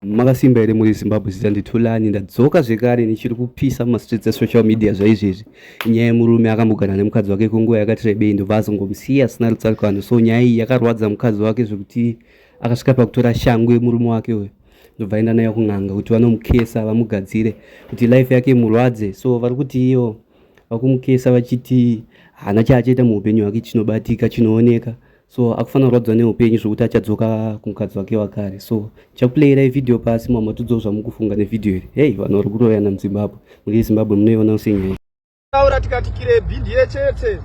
Makasimba here muri Zimbabwe zita ndithulani ndadzoka zvekare ndichiri kupisa mumastreets esocial media zvaizvezvi nyaya yemurume akambogara nemukadzi wake kwenguva yakati rebei ndobva azongomusiya asina rutsarikano so nyaya iyi yakarwadza mukadzi wake zvekuti akasvika pakutora shangu yemurume wake uyo ndobva aenda nayo kun'anga kuti vanomukesa vamugadzire kuti life yake murwadze so vari kuti iyo vakumukesa vachiti haana chaachaita muupenyu hwake chinobatika chinooneka so akufanira kurwadziwa neupenyu zvekuti achadzoka kumukadzi wake wakare so chakuplayirai vhidhiyo pasi mamwe matudzawo zvamukufunga nevhidhiyo iri hei vanhu vari kuroyana muzimbabwe muri zimbabwe munoiona usenyaya taura tikati kirebhi ndiye chete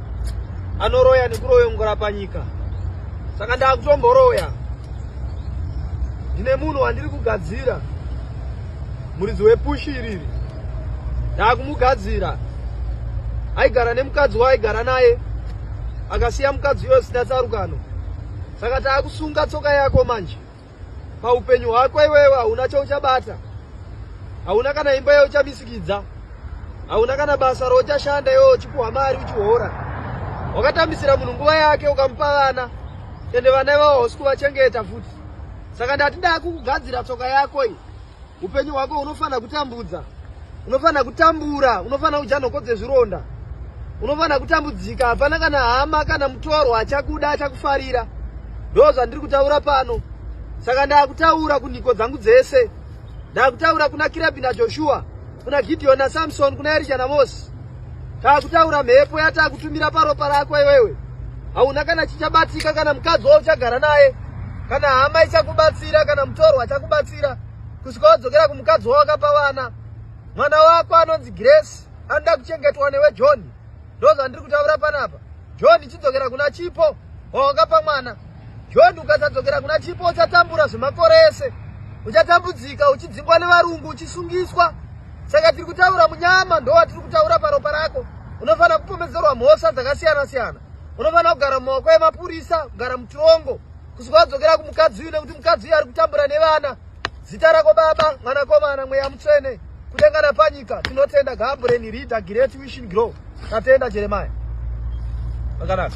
anoroya nekuroyongora panyika saka ndakutomboroya ndine munhu wandiri kugadzira muridzi wepushi iriri ndakumugadzira aigara nemukadzi waaigara naye akasiya mukadzi uyo zvisina tsarukano saka taakusunga tsoka yako manje paupenyu hwako iwewe hauna chauchabata hauna kana imba yauchamisikidza hauna kana basa rouchashanda iwewe uchipuhwa mari uchihora wakatambisira munhu nguva yake ukamupa vana ende vana ivavo hausi kuvachengeta futi saka ndati dakukugadzira tsoka yako iyi Upenyu hwako unofanira kutambudza. Unofanira kutambura, unofanira kudya nhoko dzezvironda. Unofanira kutambudzika, hapana kana hama kana mutorwa achakuda achakufarira. Ndoo zvandiri kutaura pano. Saka ndakutaura kunhiko dzangu dzese. Ndakutaura kuna Kirebi naJoshua, kuna Gideon naSamson, kuna Erisha naMosi. Takutaura mhepo yatakutumira paropa rako iwewe. Hauna kana chichabatika kana mukadzi wauchagara naye. Kana hama ichakubatsira kana mutorwa achakubatsira. Kusvika wadzokera kumukadzi wawakapa vana. Mwana wako anonzi Grace anoda kuchengetwa newe John. Ndozvandiri kutaura panapa. John chidzokera kuna Chipo wawakapa mwana. John ukasadzokera kuna Chipo uchatambura zvemakore ese. Uchatambudzika uchidzingwa nevarungu uchisungiswa. Saka tiri kutaura munyama ndowatiri kutaura paropa rako. Unofanira kupomedzerwa mhosva dzakasiyana siyana. Unofanira kugara mumaoko emapurisa, kugara mutirongo. Kusvika wadzokera kumukadzi uyu nekuti mukadzi uyu ari kutambura nevana. Zita rako baba, mwanakomana, mweya mutsvene. Kudenga napanyika tinotenda Gambureni Rida Gireti Wishin Grow. Tatenda Jeremiah. Vakanaka.